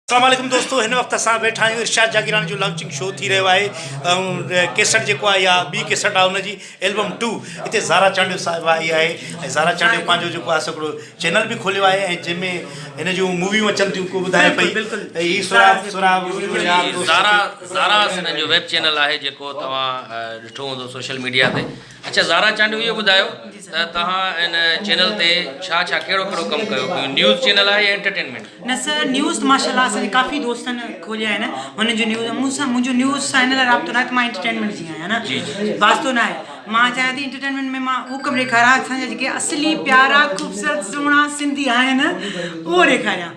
السلام عليڪم دوستو هن وقت اسان ويٺا آهيون ارشاد جاگيراڻي جو لانچنگ شو ٿي رهيو آهي ۽ ڪيسٽ جيڪو آهي يا ٻي ڪيسٽ آهي ان جي البم ٽو هتي زارا چانڊيو صاحب آئي آهي ۽ زارا چانڊيو پنهنجو جيڪو آهي سڪڙو چينل به کوليو آهي ۽ جنهن ۾ هن جون موويون اچن ٿيون ڪو ٻڌائي پئي هي سوراب سوراب زارا زارا سنن جو ويب چينل آهي جيڪو توهان ڏٺو هوندو سوشل ميڊيا تي اچا زارا چانڊيو اهو ٻڌايو ته توهان ان چينل تي ڇا ڇا ڪهڙو ڪهڙو ڪم ڪيو پيو نيوز چينل آهي يا انٽرٽينمينٽ نه سر نيوز ته ماشاء الله اسان ڪافي دوستن کوليا آهن هن جو نيوز مون سان منهنجو نيوز سان هن لاء رابطو نه ته مان انٽرٽينمينٽ جي آهيان نه واسطو نه آهي مان چاهيان ٿي انٽرٽينمينٽ ۾ مان هو ڪم ڏيکاريان اسان جا جيڪي اصلي پيارا خوبصورت سهڻا سنڌي آهن اهو ڏيکاريان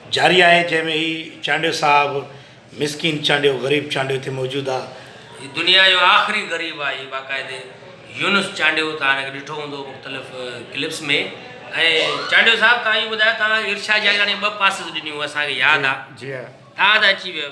جاري آهي جنهن ۾ هي چانڊيو صاحب مسڪين چانڊيو غريب چانڊيو هتي موجود آ. هي دنيا جو آخري غريب آ هي باقاعدي يونس چانڊيو توهان هن کي ڏٺو هوندو مختلف ڪلپس ۾ ۽ چانڊيو صاحب توهان اهو ٻڌايو توهان ارشاد جاگيراڻي ٻه پاسز ڏنيون اسان کي ياد آ توهان ته اچي ويو.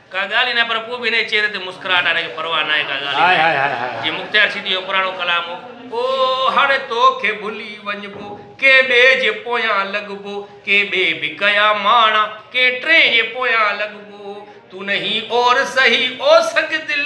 ڪا ڳالهه ئي ناهي پر پوء به هن جي چهري تي مسڪراهٽ آهي هن کي پرواهه ناهي ڪا ڳالهه ئي ناهي جيئن مختيار سيتيء جو پراڻو ڪلام هو. او هاڻي توکي ڀلي وڃبو ڪنهن ٻئي جي پويان لڳبو ڪنهن ٻئي به ڪيا ماڻا ڪنهن ٽئين جي پويان لڳبو تون نهين اور سهي او سڳ دل.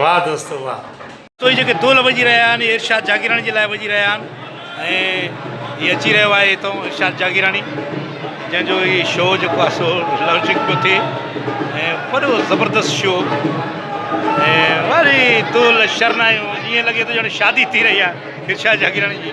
واھ دوستو واھ. توھين جيڪي دول وڄي رھيا آھن اھي ارشاد جاگيراڻي جي لاء وڄي رھيا آھن ۽ ھي اچي رھيو آھي ھتئون ارشاد جاگيراڻي جنھن جو ھي شو جيڪو آھي سو لانچنگ پيو ٿئي ۽ وڏو زبردست شو ۽ وري دول شرنايون ائين لڳي ٿو ڄڻ شادي ٿي رھي آھي ارشاد جاگيراڻي جي